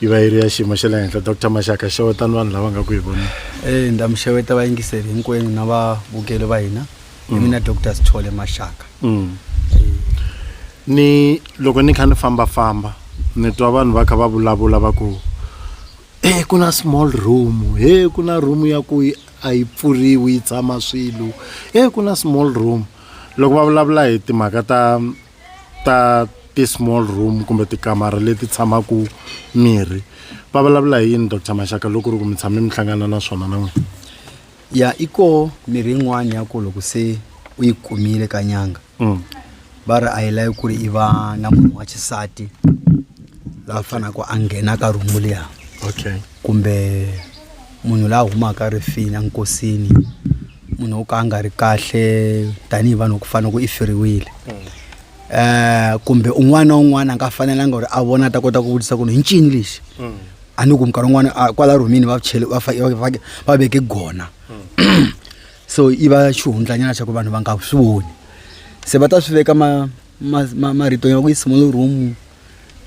yi va yi ri ya xiyimo xa le henhla dr maxaka xewetani vanhu lava nga ku hi vona e ndza mi xeweta vayingiseli hinkwenu na vavukeli va hina i mina dr sithole maxaka mm. ni loko ni kha ni fambafamba ni twa vanhu va kha va vulavula va ku e ku na small room he ku na room ya ku a yi pfuriwi yi tshama swilo he ku na small room loko va vulavula hi timhaka ta ta ti-small room kumbe tikamara leti tshamaka mirhi va vulavula hi yini dr maxaka loko ri ku mi tshame mi hlangana na swona na n'wina ya i koho mirhi yin'wana ya ku loko se u yi kumile ka nyanga mm. va ri a yi lavi ku ri i va na munhu wa xisati la fanaka a nghena ka rhumu liya okay kumbe munhu la humaka rifini a nkosini munhu wo ka a nga ri kahle tanihi vanhu ku fana ku i feriwile um kumbe un'wana na un'wana a nga fanelanga ku ri a vona a ta kota ku vutisa ku ri hi ncini lexi a ni ku minkarhi un'wana a kwala rhumini va chele va fa- va- va- va veke gona so i va xihundlanyana xa ku vanhu va nga swi voni se va ta swi veka ma ma- ma- marito ya ku yisa mo le room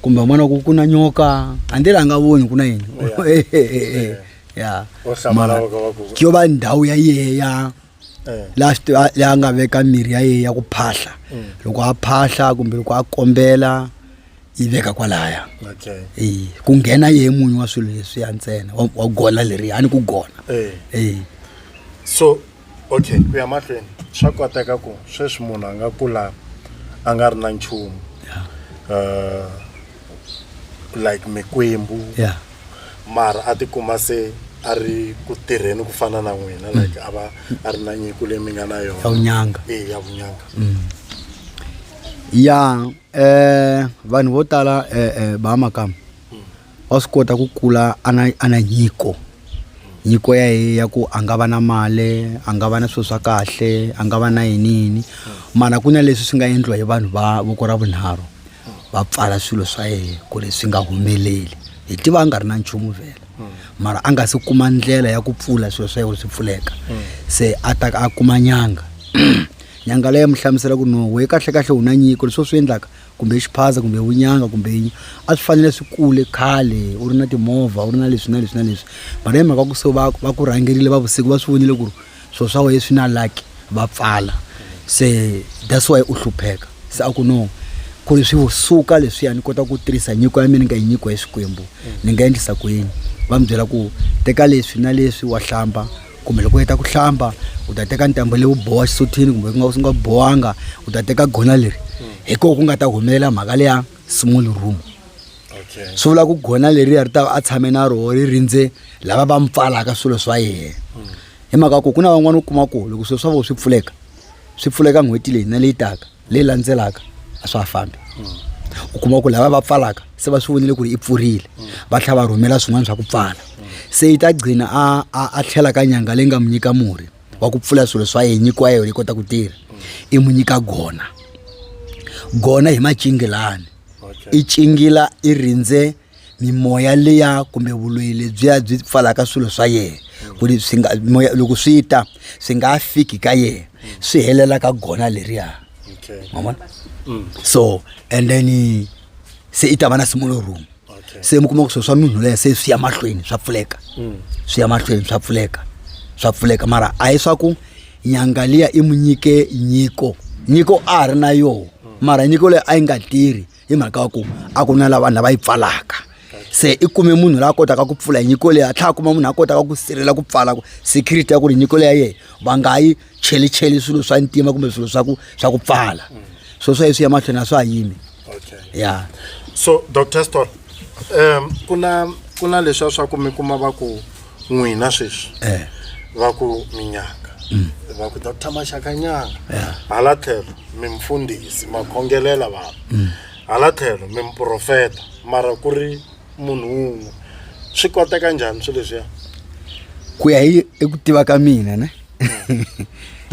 kumbe un'wana ku ku na nyoka handle la nga voni ku na yini ya Wo hlamba mara lava ka va ku- ke yo va ndhawu ya yeya Eh. la swi tiva- la a nga veka mirhi ya yeya ku phahla loko a phahla kumbe loko a kombela yi veka kwalaya okay Eh, ku nghena yehe munyu wa swilo leswiya ntsena wa- wa gola leriya a ni ku gona Eh. Eh. so Okay, ku ya mahlweni swa koteka ku sweswi munhu a nga kula a nga ri na nchumu uh, like mikwembu yeah. mara a tikuma se a ri ku tirheni ku fana na n'wina mm. like a va a ri na nyiko leyi mi nga na yona ya vunyanga e ya vunyanga mm. ya um vanhu vo tala um eh, eh, ba makama wa swi kota ku kula a na a na nyiko nyiko ya ye ya ku a nga va na mali a nga va na swilo swa kahle a nga va na yini yini mara ku na leswi swi nga endliwa hi vanhu va voko ra vunharhu va pfala swilo swa yena ku ri swi nga humeleli hi tiva a nga ri na nchumu vhela mara a nga se kuma ndlela ya ku pfula swilo swa yena swi pfuleka se a ta a kuma nyanga nyanga leyi mu hlamusela ku no we kahlekahle u na nyiko leswi swi endlaka kumbe i xiphaza kumbe vunyanga kumbe yini a swi fanele swi kule khale u ri na timovha u ri na leswi na leswi na leswi mara hi mhaka ku se va va ku rhangerile va vusiku va swi vonile ku ri swilo swa wena swi na lucky va pfala se that's why u hlupheka se a ku no ku ri swi suka leswiya ni kota ku tirhisa nyiko ya mina ni nga yi nyikiwa hi xikwembu ni nga endlisa ku yini va mi byela ku teka leswi na leswi wa hlamba kumbe loko u heta ku hlamba u ta teka ntambo leyi u boha xisuthini kumbe ku nga u nga bohanga u ta teka gona leri hi koho ku nga ta humelela mhaka leya small room swi vula ku gona leriya ri ta a tshame na roho ri rindze lava va mi pfalaka swilo swa yena hi mhaka ku ku na van'wana u kuma ku loko swilo swa vona swi pfuleka swi pfuleka n'hweti leyi na leyi taka leyi landzelaka a swa ha fambi u kuma ku lava va pfalaka se va swi vonile ku ri i pfurile va tlhela va rhumela swin'wana swa ku pfala se yi ta gcina a a a tlhela ka nyanga leyi nga mu nyika murhi wa ku pfula swilo swa yena nyikiwa yona yi kota ku tirha i mu nyika gona gona hi macingilani i cingila i rindze mimoya liya kumbe vuloyi lebyiya byi pfalaka swilo swa yena ku ri swi nga moya loko swi ta swi nga fiki ka yena swi helela ka gona leriya mavona so and then se i ta va na similar room se mi kuma ku swilo swa munhu leya se swi ya mahlweni swa pfuleka swi ya mahlweni swa pfuleka swa pfuleka mara a hi swa ku nyanga liya i mu nyike nyiko nyiko a ha ri na yoho mara nyiko leyi a yi nga tirhi hi mhaka ya ku a ku na la vanhu lava yi pfalaka se i kume munhu la kotaka ku pfula hi nyiko leyi a tlhela a kuma munhu a kotaka ku sirhelela ku pfala ku security ya ku ri nyiko leyi ya yena va nga yi chelicheli swilo swa ntima kumbe swilo swa ku swa ku pfala swo swa leswi ya mahlweni a swa ha yimi ya so dr stor um ku na ku na leswiya swa ku mi kuma va ku n'wina sweswi eh. va ku minyanga mm. va ku dr maxakanyanga eh. hala tlhelo mi mfundhisi ma khongelela vanhu mm. hala tlhelo mi muprofeta mara ku ri munhu wun'we swi koteka njhani swilo leswiya ku ya hi eku tiva ka mina ne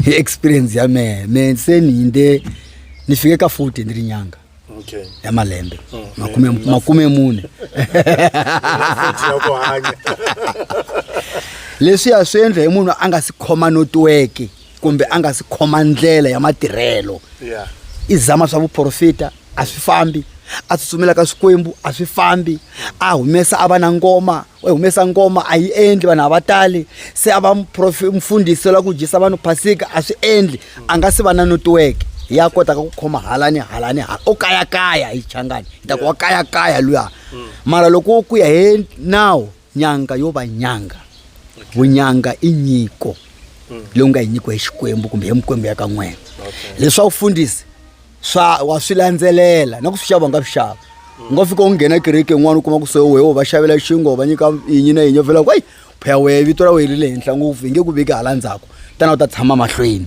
hi experience ya mehe me se ni hinde ni fike ka futi ni ri nyanga okay. ya malembe mm. makume, mm. makume mune leswi ya swi endla hi munhu a nga si khoma notiweke kumbe a nga si khoma ndlela ya matirhelo yeah. i zama swa vuprofita a swi fambi a tsutsumela ka swikwembu a swi fambi a humesa a va na ngoma u humesa ngoma a yi endli vanhu a va tali se a va mfundhisi la ku dyisa vanhu phasika a swi endli a nga si va na netiweke ya kotaka ku khoma hala ni hala ni hala o kayakaya hi changani hi ta ku wa kayakaya luya mm. mara loko wo ku ya hi nawu nyanga yo va nyanga vunyanga i nyiko mm. leyi u nga yi nyikiwa hi xikwembu kumbe hi mikwembu ya ka n'wena leswaku fundisi swa wa swi landzelela na ku swi xava nga swi xava u nga fika u nghena kereke n'wana u kuma ku soho wehe va xavela xingo va nyika yinyi na yinyi u vela ku eyi phaya wehe vito ra wehe ri le henhla ngopfu hi nge ku veki hala ndzhaku tana u ta tshama mahlweni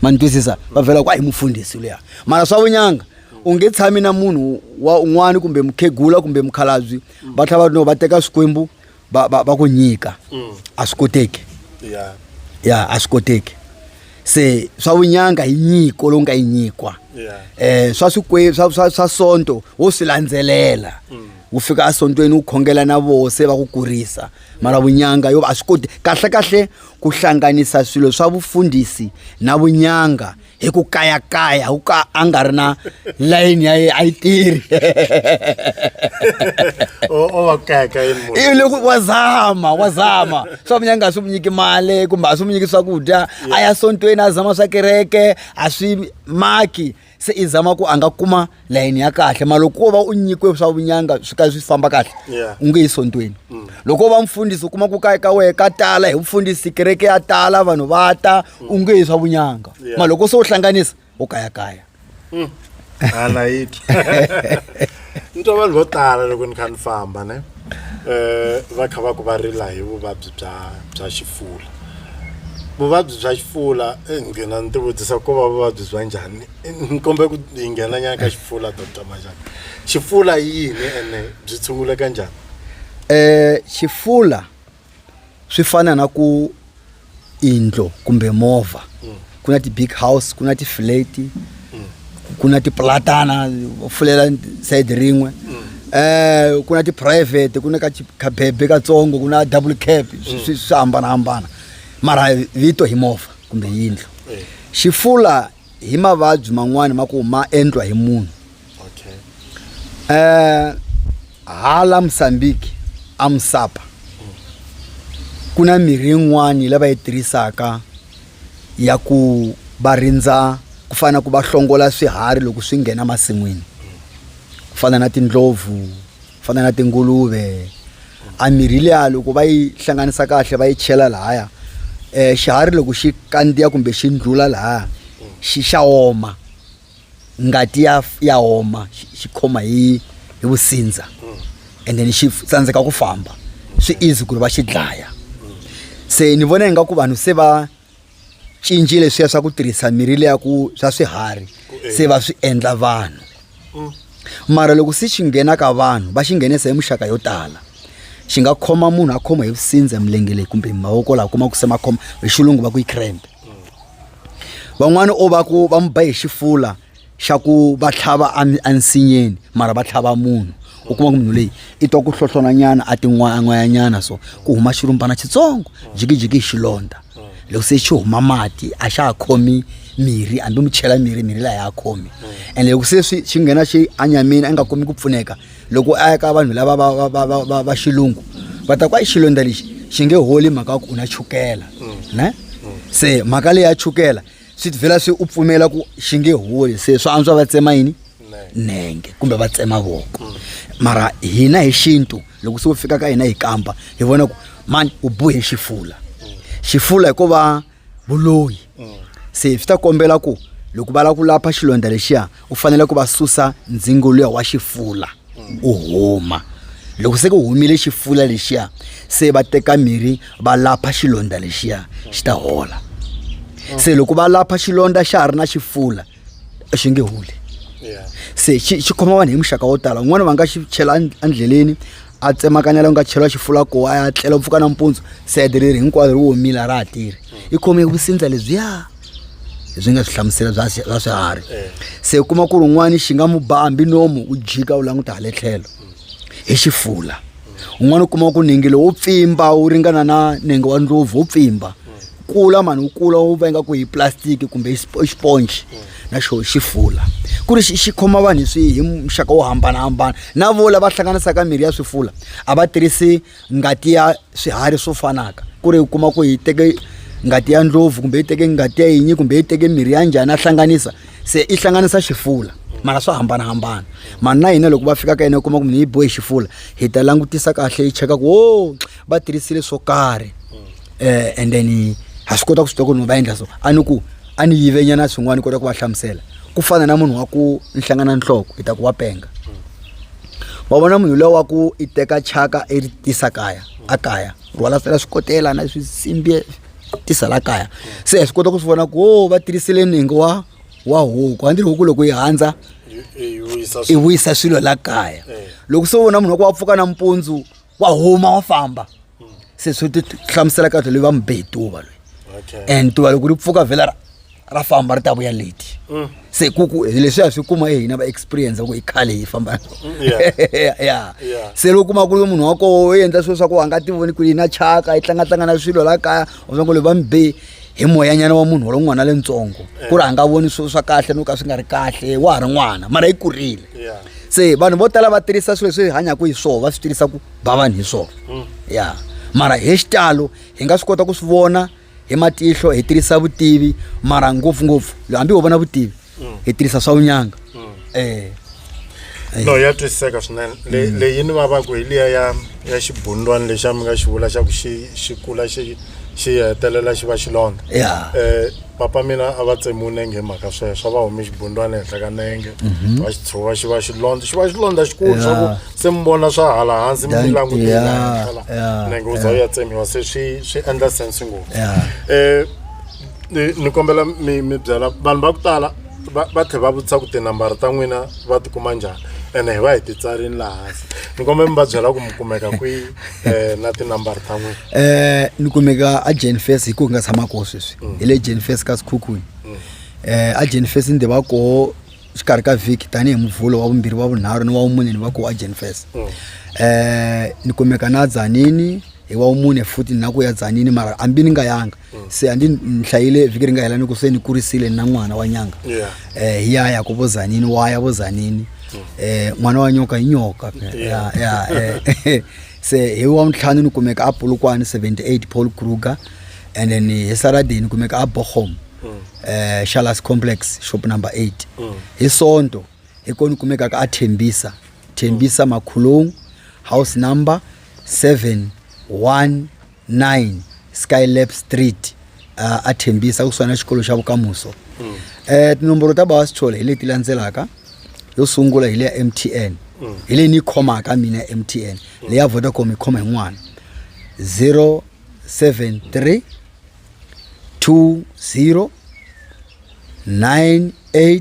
ma ni twisisa va vela ku a hi mufundhisi luya mara swa vunyanga u nge tshami na munhu wa un'wana kumbe mukhegula kumbe mukhalabyi va tlhela va no va teka swikwembu va va va ku nyika mm. a swi koteki ya ya a swi koteki se swa vunyanga hi nyiko lowu nga yi nyikwa um swa swikwe swa swa swa sonto wo swi landzelela mm. wu fika esontweni wu khongela na voho se va ku kurisa mara vunyanga yo a swi koti kahlekahle ku hlanganisa swilo swa vufundhisi na vunyanga hi ku kayakaya wu ka a nga ri na layini ya yena a yi tirhi loko wa zama wa zama swa munya nga swi mu nyiki mali kumbe a swi mu nyiki swakudya a ya sontweni a zama swa kereke a swi maki se i zama ku a nga kuma layeni ya kahle ma loko wo va u nyikiwe swa vunyanga swi ka swi famba kahle Yeah. u nge yi sontweni loko wo va mfundhisi u kuma ku kaya ka wehe ka tala hi mfundhisi kereke ya tala vanhu va ta u nge yi swa vunyanga Yeah. ma loko se u hlanganisa u kayakaya hala yi ni twa vanhu vo tala loko ni kha ni famba ne eh va kha va ku va rila hi vuvabyi bya bya xifula vuvabyi bya xifula eh, ngina ni tivutisa ko va vuvabyi bya njhani ni kombela ku hi nghena nyana ka xifula dr majaka xifula i yini ene byi tshunguleka njhani eh xifula swi fana na ku indlo kumbe movha ku na ti-big house ku na ti-flate ku na tipulatana u fulela sayidi rin'we um ku na tiphurayivhete ku na ka chi- kabebe katsongo ku na double cap swi- swi swi hambanahambana mara vito hi movha kumbe yindlu Eh. xifula hi mavabyi man'wani ma ku ma endlwa hi munhu okay. eh, hala mosambiki amusapa ku na mirhi yin'wani lava yi tirhisaka ya ku va rindza ku fana na ku va hlongola swiharhi loko swi nghena masin'wini ku fana na tindlopfu fana na tinguluve a mirhi leya loko va yi hlanganisa kahle va yi chela lahaya um xiharhi loko xi kandziya kumbe xi ndlula lahaya xi xa oma ngati ya ya oma xi khoma hi hi vusindza and then xi tsandzeka ku famba swi easy ku ri va xi dlaya se ni vona ingaku vanhu se va cinci leswiya swa ku tirhisa mirhi leya ku swa swiharhi se va swi endla vanhu mm. mara loko se xi nghena ka vanhu va xi nghenisa hi muxaka yo tala xi nga khoma munhu a khoma hi vusindza milenge leyi kumbe mavoko laha kuma ku se makhoma hi xilungu va ku yi cramp van'wana o va ku va mu ba hi xifula xa ku va tlhava ensinyeni mara va tlhava munhu u kuma ku munhu leyi i twa ku hlohlonanyana a tin'wayan'wayanyana so ku huma xirumbana xitsongo jikijiki hi xilondza loko se xi huma mati a xa ha khomi mirhi hambi mi chela mirhi mirhi laha ya ha khomi and loko se swi xi nghena xi anyamini a nga kumi ku pfuneka loko a ya ka vanhu lava va va va va va va xilungu va ta ku a yi xilondza lexi xi nge holi mhaka ya ku u na chukela ne se mhaka leyi ya chukela swi tivhela swi u pfumela ku xi nge holi se swa antswa va tsema yini nenge kumbe va tsema voko mm. mara hina hi xintu loko se u fika ka hina hi kampa hi vona ku mani u bohe xifula mm. xifula hikuva vuloyi mm. se swi ta kombela ku loko va lava ku lapha xilondza lexiya u fanele ku va susa ndzingo luya wa xifula u huma loko se ku humile xifula lexiya se va teka mirhi va lapha xilondza lexiya xi ta hola se loko va lapha xilondza xa ha ri na xifula xi nge holi se xi xi khoma vanhu hi muxaka wo tala un'wana va nga xi chela end- endleleni a tsemakanya la ku nga chela xifula ko a ya tlela mpfuka nampundzu sede leri hinkwaro ri womile a ra ha tirhi i khome vusindza lebyiya leswi nga swi hlamusela bya bya swiharhi eh. se u kuma ku ri un'wana xi nga mu ba hambi nomu u jika u languta hale tlhelo hi xifula un'wana u kuma ku ningi lowu pfimba wu ringana na ningi wa ndlopfu wu pfimba kula mani wu kula wu va ingaku hi plastic kumbe i xiponji na xo xifula ku ri xi khoma vanhu hi swi hi muxaka wo hambanahambana na vo lava hlanganisaka mirhi ya swifula a va tirhisi ngati ya swiharhi swo fanaka ku ri u kuma ku yi teke ngati ya ndlopfu kumbe yi teke ngati ya yinyi kumbe yi teke mirhi ya njhani a hlanganisa se i hlanganisa xifula mara swa hambanahambana mani na hina loko va fika ka yena u kuma ku munhu yi bohe xifula hi ta langutisa kahle yi cheka ku wo va tirhisile swo karhi um and then ha swi kota ku swi tiva ku ri va endla so a ni ku a ni yivenyana swin'wana ni kota ku va hlamusela ku fana na munhu wa ku ni hlangana nhloko hi ta ku wa penga wa vona munhu lowa ku i teka chaka i ri tisa kaya a kaya rhwala sela swi kotela na swisimbi tisa la kaya se hi swi kota ku swi vona ku o va tirhisile ningi wa wa huku a ndzi ri huku loko yi handza i vuyisa swilo la kaya loko se u vona munhu wa ku wa pfuka nampundzu wa huma wa famba se swi ti hlamusela kahle leyi va mi be hi tuva loyi and tuva loko ri pfuka vhela ra ra famba ri ta vuya leti mm. se ku ku leswi a swi kuma hina va experience ku i khale hi famba mm, ya se loko kuma ku ri munhu wa koho u endla swilo swa ku a nga ti voni ku yi na chaka yi tlangatlanga na swilo la kaya u swa ku le va mi be hi moyanyana wa munhu walo n'wana lentsongo ku ri a nga voni swilo swa kahle no ka swi nga ri kahle wa ha ri n'wana mara yi kurile se vanhu vo tala va tirhisa swilo leswi hi hanyaka hi swona va swi tirhisa ku ba vanhu hi swona hmm. ya mara hi xitalo hi nga swi kota ku swi vona hi matihlo hi tirhisa vutivi mara ngopfungopfu hambi ho vona vutivi mm. hi tirhisa swa unyanga mm. eh no ya twisiseka swinene mm. leyi ni vavaku hi liya ya ya xibundwani lexa mi nga xi vula xa ku xi xi kula xi xi hetelela xi va xilondza ya eh papa mina a va tsemiwe nenge mhaka sweswo va hume xibundwana ehenhla ka nenge mhm. va xi tshuva xi va xilondza xi va xilondza xikulu swa ku se mi vona swa hala hansi mi mi langutela nenge u za u ya tsemiwa se swi swi endla sense ngopfu um ni ni kombela mi mi byela vanhu va ku tala va va tlhe va vutisa ku tinambara ta n'wina va tikuma njhani ene hi va hi titsarini laha hansi ni kombela mi va byela ku mi kumeka kwihi um na tinambara ta n'wina eh ni kumeka a Jane Fest hi ku nga tshama koho sweswi hi le Jane Fest ka Sikhukhuni eh a Jane Fest ni tiva koho xikarhi ka vhiki tanihi muvhulo wa vumbirhi wa vunharhu ni wa vumune ni va koho a Jane Fest eh ni kumeka na Dzanini hi wa vumune futhi na ku ya Dzanini mara hambi ni nga yanga se a ndi ni hlayile vhiki ri nga hela ni ku se ni kurisile ni na n'wana wa nyanga Yeah. eh hi ya ya ku vo zanini wa ya vo zanini eh n'wana wa nyoka hi nyoka ya ya eh, se hi wa ntlhanu ni kumeka a polokwane 78 paul kruger and then hi saturday ni kumeka a bochom eh shalas complex shop number 8 hi sonto hi ko ni kumeka ka a thembisa thembisa makhulong house number 7 1 9 skylab street uh, a thembisa kusuhana xikolo xa vukamuso mm. eh, tinomboro ta bawa sithole hi leti landzelaka yo sungula hi le ya m t n mm. hi leyi ni yi khomaka mina m t n mm. leyi ya vodacom yi khoma hi n'wana 073 20 98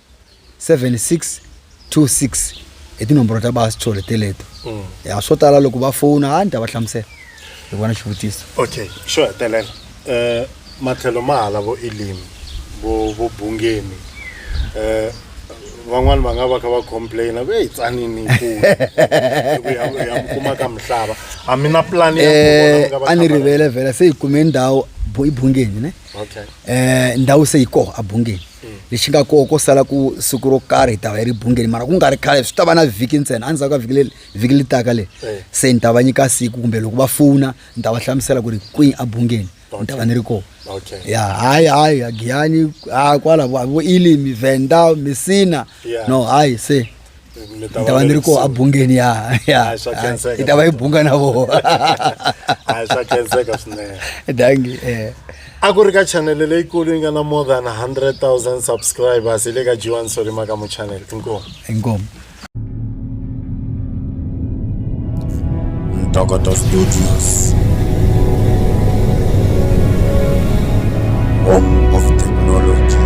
7626 hi tinomboro ta basi tshole teleto mm. ya swo tala loko va fona a ni ta va hlamusela hi vona xivutiso okay xo hetelela um matlhelo ma hala vo elimi vo vo bungeni um van'wani va nga va kha va complaina ve yi tsanini kuma ka mihlava a mi na plan eh, a ni rivele vhela se hi kume ndhawu i bungeni ne okay. eh ndhawu se yi koho a bungeni mm. lexi nga koho ko sala ku siku ro karhi hi ta va yi ri bungeni mara ku nga ri khale swi ta va na vhiki ntsena a ndzhaku ka vhiki le vhiki le taka le eh. se ni ta va nyika siku kumbe loko va fona ni ta va hlamusela ku ri kwihi a bungeni ni ta va ni ri koho ya hayi hayi agiyani a kwala vo ilimi venda misina no hayi se ni ta va ni ri koho abungeni ya ya hi ta va hi bunga na vona hayi swa khenseka swinene dangi eh a ku ri ka chanele leyikulu yi nga na more than 100 000 subscribers hi le ka jiwan solima ka mu chanele inkomu inkomu ntokoto studios home of technology